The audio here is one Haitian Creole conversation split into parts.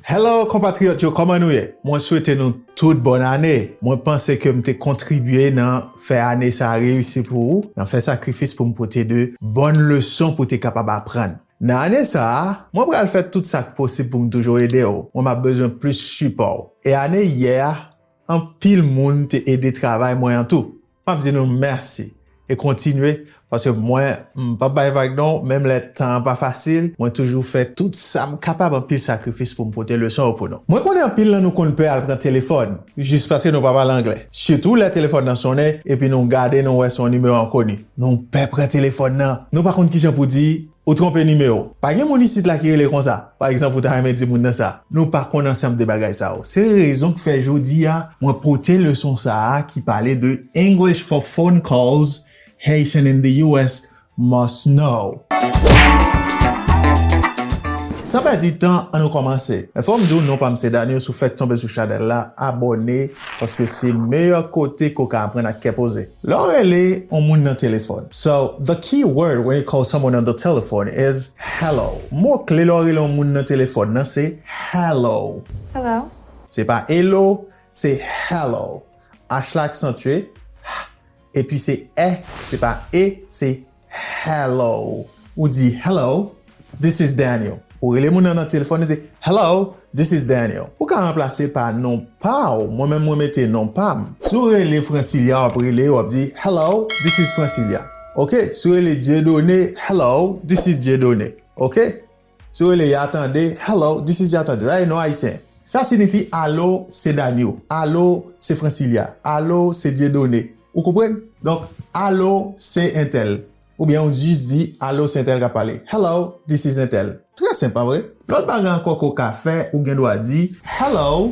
Hello konpatriyòt yo kòman nou ye? Mwen swete nou tout bòn ane! Mwen panse ke m te kontribye nan fè ane sa reyisi pou ou, nan fè sakrifis pou m pote de bòn leson pou te kapab aprann. Nan ane sa, mwen pral fè tout sa k posib pou m toujou ede w, mwen m ap bezwen plis sipò w. E ane yè a, anpil moun te ede travay mwen an tou. Map di nou mèsi e kontinye paske mwen m pap bay vag non menm lè tan an pa fasil mwen toujou fè tout sam kapab anpil sakrifis poum pote leson yo pou nou. Mwen konnen anpil nan nou konn pè al pran telefòn jis paske nou pa pale anglè sitou lè telefòn nan sonnen epi nou gade nou wè se yon nimewo enkoni nou pè pran telefòn nan nou pa konn kijan pou di Ou tronpe nimewo. Pa gen moun isit la ki rele konsa. Pa egzanp ou ta renmen di moun nan sa. Nou pa konn ansanm de bagay sa yo. Se rezon ki fè jodi a mwen pote leson sa a ki pale de English for phone calls Haitian in the US must know. San pèdi tan an nou kòmanse. Men fò m di w non pa m se Danio si w fèk tonbe sou chanèl la abòne paske se meyè kote ke w ka aprann ak kè poze. Lè w rele on moun nan telefòn. So, the key word when you call someone on the telephone is hello. Mo kle lè w rele on moun nan telefòn nan se hello. Hello. Se pa elo, se hello. H la aksantye, hh, epi se eh, se pa e, se. Hello Ou di Hello, this is Daniel. Ou rele moun nan nan telefòn, ou di Hello, this is Daniel. Ou ka ranplase pa non pa ou, mwen menm mwen mete non pa m. Si w rele Francilia, w ap rele, w ap di Hello, this is Francilia. Ok, si w rele Dieudonné, Hello, this is Dieudonné. Ok, Si w rele ya tande, Hello, this is ya tande. Sa se non ayisyen. Sa sinifi alo se Danio, alo se Francilia, alo se Dieudonne. Ou konprann? Donk, alo se entèl. Oubyen ou jis di, alo se entèl k ap pale. Hello, this is entèl. Trè senp, pa vre? Lòt bagay ankò ke w ka fè, ou gen dwa di, Hello.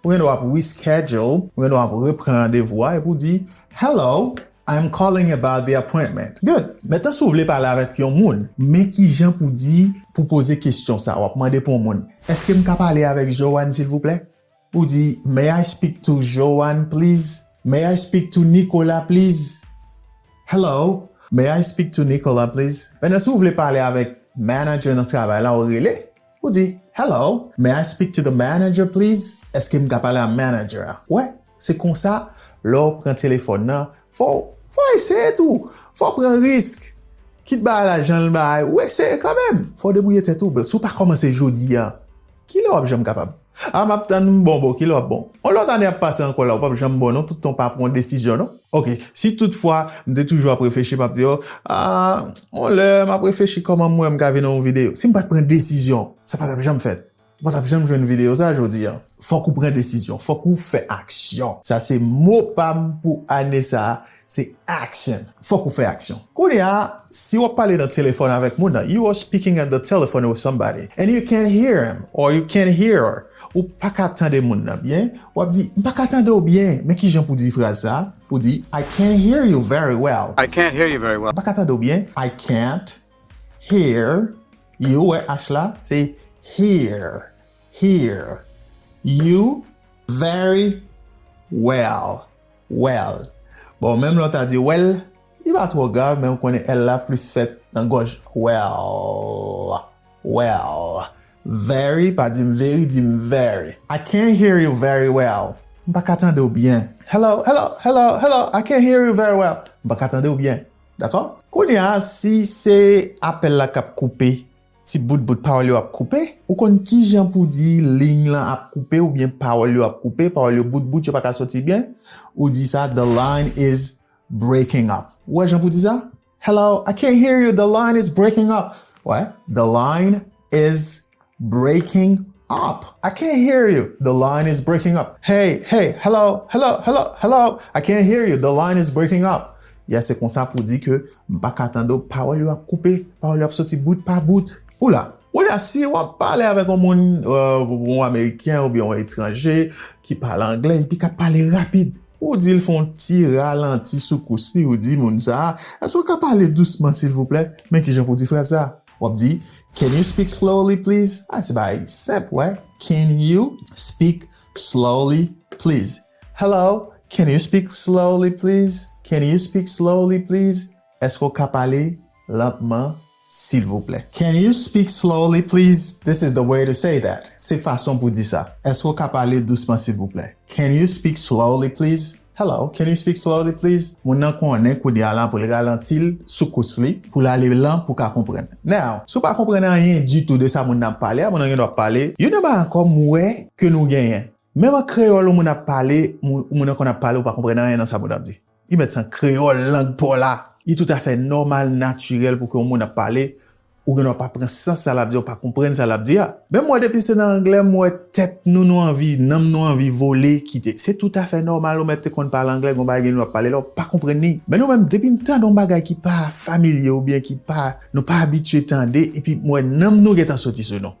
Ou gen dwa ap reschedule, ou gen dwa ap repran randevou a epi w di, Hello, I am calling about the appointment. Good! Mentnan si w vle pale avèk yon moun, men kijan pou di, pou poze kesyon sa a. W ap mande pou yon moun, Èske m ka pale avèk Joanne silvouplè? Ou di, May I speak to Joanne please? May I speak to Nicolas please? Hello, may I speak to Nicolas please? Mentnan si w vle pale avèk manager nan travay la, ou rele. Ou di, Hello, may I speak to the manager please? Èske m ka pale a manager a? Wè, se konsa, lè w pran telefòn nan, fò w, fò w eseye tou! Fò w pran risk! Kit bagay la jan l bay, ou eseye kanmenm! Fò w debwouye tèt ou, si w pa kòmanse jodi a, kilè w ap janm kapab? Ah map tann m bon boo kilè wap bon on lòt ane ap pase ankò la ou pap janm bon non tout tan ou pa pran yon desizyon non. Ok si tout fwa m te toujou ap reflechi map di oh ah on lè map reflechi kòman m wè m ka vin on video si m pat pran desizyon sa patap janm fèt ou patap janm jwenn video sa jodi an fòk ou pran desizyon fòk ou fè aksyon sa se mo pam pou ane sa se action. Fòk ou fè aksyon. Kounye a, si w ap pale nan telefòn avèk moun nan, you are speaking on the telephone with somebody and you can't hear him or you can't hear her, ou pa ka tande moun nan byen, w ap di, M pa ka tande w byen. Men ki jan pou w di fraz sa a, ou di, I can't hear you very well. I can't hear you very well. M pa ka tande w byen. I can't hear you, ou wè h la, se hear, hear, you very well. Well. Bon, menm lè w ta di wèl, li pa twò grav men ou konnen L la plis fèt nan gòj Well. Well. Very, pa di m veri, di m very. I can't hear you very well. M pa ka tande w byen. Hello, hello, hello, hello, I can't hear you very well. M pa ka tande w byen. Dakò? Kounye a, si se apèl la k ap koupe, Ti bout bout pawòl yo ap koupe. Ou konn kijan pou di ligne lan ap koupe oubyen pawòl yo ap koupe, pawòl yo bout bout yo pa ka soti byen, ou di sa the line is breaking up. Ou wè jan pou di sa? Hello, I can't hear you, the line is breaking up. Wè, the line is breaking up. I can't hear you, the line is breaking up. Hey, hey, hello, hello, hello, hello, I can't hear you, the line is breaking up. Yeah, se konsa pou di ke. M pa ka tande w, pawòl yo ap koupe, pawòl yo ap soti bout pa bout. Ou la. Kounye a, si w ap pale avèk yon moun, yon ameriken oubyen yon etranje ki pale angle epi k ap pale rapid, ou di l fè yon ti ralanti sou kous li, ou di moun sa a, Èske w ka pale dousman silvouplè? Men kijan pou w di fraz sa a. W ap di, Can you speak slowly, please? A, se bagay senp, wè, Can you speak slowly, please? Hello, can you speak slowly please? Can you speak slowly please? Èske w ka pale lantman silvouplè? Can you speak slowly please? This is the way to say that. Se fason pou di sa. Èske w ka pale dousman silvouplè? Can you speak slowly please? Hello, can you speak slowly please? Moun nan konnen kounye a la pou l ralanti l sou kous li, pou l ale lan pou w ka konprann. Now, si w pa konprann anyen ditou de sa moun nan ap pale a, moun nan gen dwa ap pale, you know, ma kòm m wè ke nou genyen. Menm an kreyòl yon moun ap pale, yon moun an konn ap pale ou pa konprann anyen nan sa moun nan ap di. Li mèt se an kreyòl lang pa w la. Li toutafè nòmal, natirèl pou ke yon moun ap pale, ou gendwa pa pran sans sa l ap di a, ou pa konprann sa l ap di a. Men mwen depi se nan anglè m wè tèt nou nou anvi, nanm nou anvi vole kite. Se toutafè nòmal ou mèt te konn pale anglè, gen yon bagay gen w ap pale la ou pa konprann li. Men nou menm depi n tande yon bagay ki pa familye oubyen ki pa, nou pa abitye tande epi m wè nanm nou gentan soti sou nou.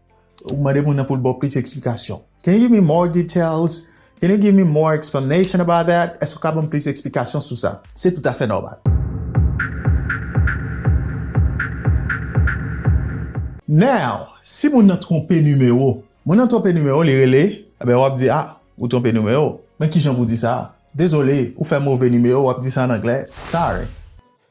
Ou mande moun nan pou l ba w plis eksplikasyon. Can you give me more details? Can you give me more explanation about that? Èske w ka ban m plis eksplikasyon sou sa? Se toutafè nòmal. Now, si moun nan twonpe nimewo, moun nan twonpe nimewo li rele, enben w ap di, Ah, ou twonpe nimewo. Men kijan pou w di sa? Dezole, ou fè move nimewo, w ap di sa an anglè, Sorry.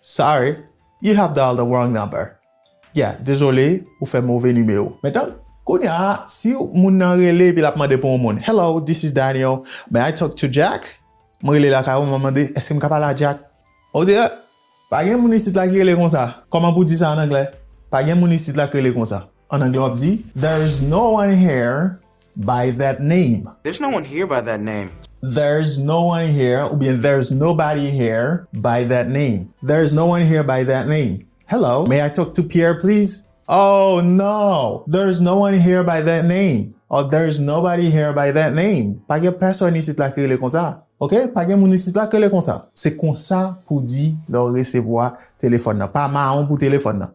Sorry, you have dialed the wrong number. Yeah, dezole, ou fè move nimewo. Men tank, kounya a, si yon moun nan rele epi l ap mande pou yon moun, Hello, this is Daniel, may I talk to Jack? Mwen rele lakay ou, m ap mande, Èske m ka pale a Jack? Ou di, Eh! Pa gen moun isit la ki rele konsa. Kòman pou w di sa an anglè? Pa gen moun isit la ki rele konsa. An anglè w ap di, There is no one here. by that name. There's no one here by that name. There's no one here oubyen There's nobody here by that name. There's no one here by that name. Hello, may I talk to Pierre please? Oh, no! There's no one here by that name. Or There's nobody here by that name. Pa gen pèsòn isit la ki rele konsa. Ok, pa gen moun isit la ki rele konsa. Se konsa pou w di lè w resevwa telefòn nan. Pa mawon pou telefòn nan.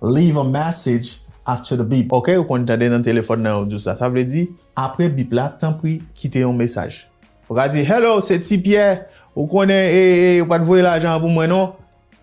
Leave a message after the beep. Ok, ou konn tande nan telefòn nan yo di w sa. Sa vle di, apre bip la, tanpri kite yon mesaj. Ou ka di, Hello, se Ti Pyè. Ou konnen, e, e, ou pa t voye lajan an pou mwen non.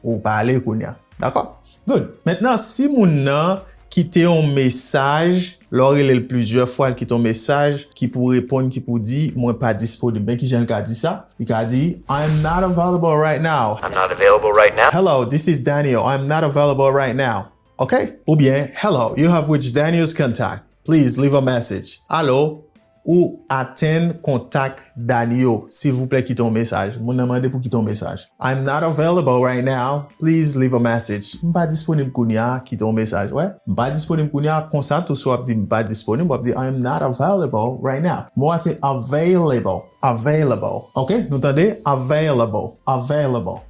Ou pale kounye a. Dakò? Good. Mentnan, si moun nan kite yon mesaj. Lè w rele l plizyè fwa l kite yon mesaj ki pou reponn ki pou di mwen pa disponib. Men kijan l ka di sa, li ka di I am not available right now. I'm not available right now. Hello, this is Daniel, I am not available right now. Ok? Oubyen Hello, you have reached Daniel's contact. Please leave a message. Alo? Ou atenn kontak Dany yo silvouplè kite yon mesaj moun nan mande pou kite yon mesaj I'm not available right now please leave a message m pa disponib kounya kite yon mesaj wè m pa disponib kounya konsa tou si wap di m pa disponib wap di I'm not available right now mo a se available available ok nou tande available available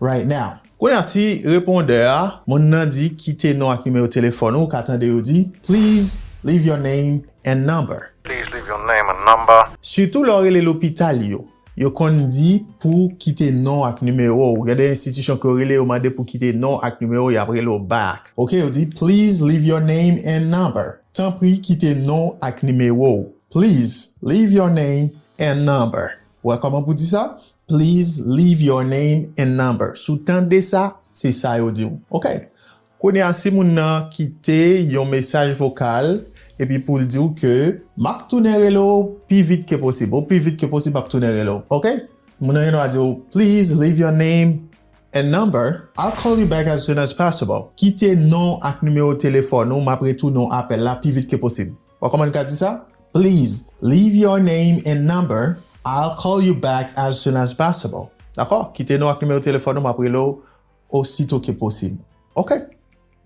right now. Kounye a si repondè a, moun nan di kite non ak nimewo telefòn ou, ou ka tande yo di, Please leave your name and number. Please leave your name and number. Sitou lè w rele lopital yo, yo konn di pou kite non ak nimewo ou. Gen de enstitisyon ke w rele yo mande pou kite non ak nimewo ou, y ap rele w back. Ok, yo di, Please leave your name and number. Tanpri kite non ak nimewo ou. Please leave your name and number. Wè kòman pou di sa? Please leave your name and number. Si w tande sa, se sa yo di w. Ok. Kounye a, si moun nan kite yon mesaj vokal epi pou l di w ke, M ap tounen rele w pi vit ke posib. Opi vit ke posib m ap tounen rele w. Ok. Moun nan gen dwa di w, Please leave your name and number. I'll call you back as soon as possible. Kite non ak nimewo telefòn ou, m ap retounen w apèl la pi vit ke posib. Bon koman li ka di sa? Please leave your name and number I'll call you back as soon as possible Dakò kite non ak nimewo telefòn ou map rele w osito ke posib Ok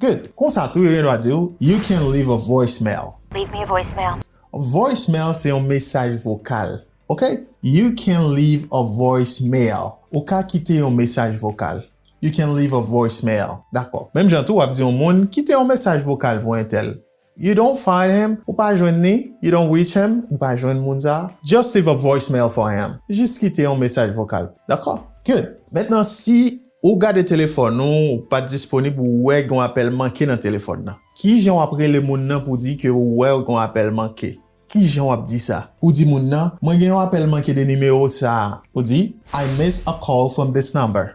good Konsa tou yo gen dwa di w You can leave a voicemail Leave me a voicemail Voicemail se yon mesaj vokal Ok You can leave a voicemail Ou ka kite yon mesaj vokal You can leave a voicemail Dakò Menm jan tou wap di yon moun kite yon mesaj vokal pou entèl You don't find him, ou pa jwenn li, You don't reach him, ou pa jwenn moun sa a, Just leave a voicemail for him, jis kite yon mesaj vokal. Dakò. Good. Mentnan si ou gade telefòn ou, ou pa disponib ou wè gen yon apèl manke nan telefòn nan. Kijan w ap rele moun nan pou di ke ou wè gen yon apèl manke? Kijan w ap di sa? Ou di moun nan, Mwen gen yon apèl manke de nimewo sa a. Ou di, I missed a call from this number.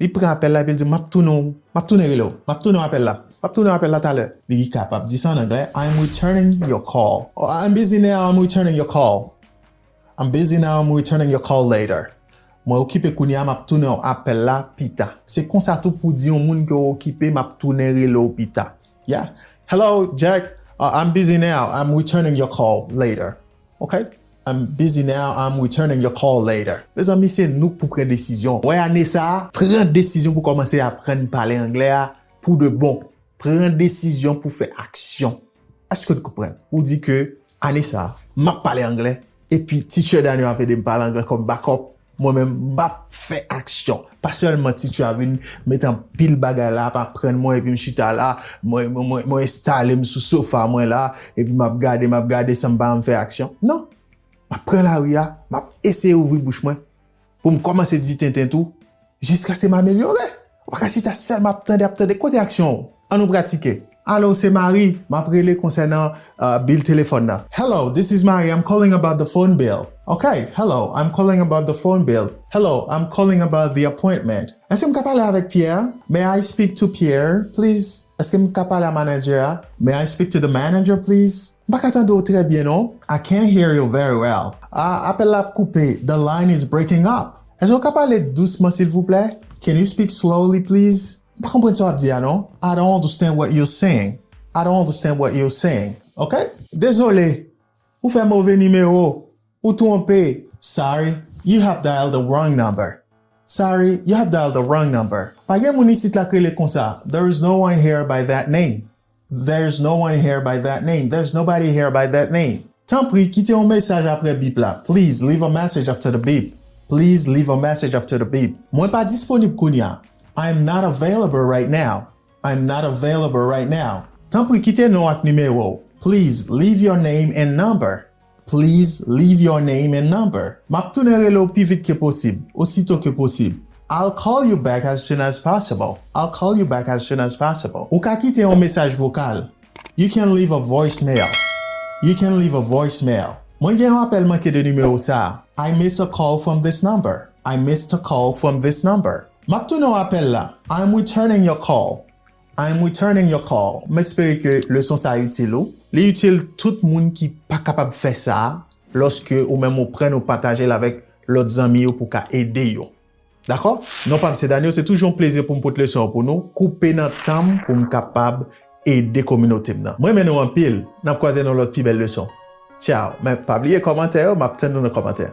Li pran apèl la epi l di, M ap tounen w, m ap tounen rele w, m ap tounen w apèl la, m ap tounen w apèl la talè. Li kapab di sa an anglè, I am returning your call or I am busy now, I am returning your call. I am busy now, I am returning your call later. Mwen okipe kounye a, m ap tounen w apèl la pita. Se konsa tou pou w di yon moun ke w okipe, m ap tounen rele w pita. Yeah, Hello, Jack, I am busy now, I am returning your call later. Ok I'm busy now I'm returning your call later. Mezanmi se nou k pou pran desizyon wè ane sa a, pran desizyon pou kòmanse aprann pale anglè a pou de bon, pran desizyon pou fè aksyon. Èske n konprann? Ou di ke ane sa a, m ap pale anglè epi teacher Dany ap ede m pale anglè kòm backup. Mwen menm m pap fè aksyon. Pa sèlman ti tchywa vin met anpil bagay la ap aprann mwen epi m chita la, mwen enstale m sou sofa mwen la epi m ap gade m ap gade san m pa janm fè aksyon. Non! M ap pran lari a, m ap eseye ouvri bouch mwen pou m kòmanse di tenten tou jiskaske m amelyore. Ou pa ka chita sèlman ap tande, ap tande. Kote aksyon ou? An nou pratike. Alo, se Mari. M ap rele konsènan bil telefòn nan. Hello, this is Mari. I'm calling about the phone bill. Ok, hello, I'm calling about the phone bill. Hello, I'm calling about the appointment. Èske m ka pale avèk Pyè? May I speak to Pierre, please? Èske m ka pale a manadjè a? May I speak to the manager, please? M pa ka tande ou trè byen non. I can't hear you very well. A, apèl la ap koupe. The line is breaking up. Èske w ka pale dousman silvouplè? Can you speak slowly please? M pa konprann sa w ap di a non. I don't understand what you're saying. I don't understand what you're saying. Ok? Dezole, ou fè move nimewo. Ou twonpe. Sorry, you have dialed the wrong number. Sorry, you have dialed the wrong number. Pa gen moun isit la k rele konsa. There is no one here by that name. There's no one here by that name There's nobody here by that name Tanpri, kite yon mesaj apre bip la Please leave a message after the beep Please leave a message after the beep Mwen pa disponib kounye a I am not available right now I am not available right now Tanpri kite non w ak nimewo w Please leave your name and number Please leave your name and number. Map tounen rele w pi vit ke posib, osito ke posib. I'll call you back as soon as possible. I'll call you back as soon as possible. Ou ka kite yon mesaj vokal. You can leave a voicemail. You can leave a voicemail. Mwen gen yon apèl manke de nimewo sa a. I missed a call from this number. I missed a call from this number. Map tounen w apèl la. I'm returning your call. I am returning your call, m espere ke leson sa itil ou. Li itil tout moun ki pa kapab fè sa lòske ou menm ou prann ou pataje l avèk lòt zanmi yo pou w ka ede yo. Dakò? Non pa m se Danio, se toujou yon plezi pou m pot leson yo pou nou, koupe nan tan m pou m kapab ede kominote m nan. M renmen nou anpil, n ap kwaze nan yon lòt pi bèl leson. Tchao, men pa bliye kòmantè yo, m ap tann nou nan kòmantè.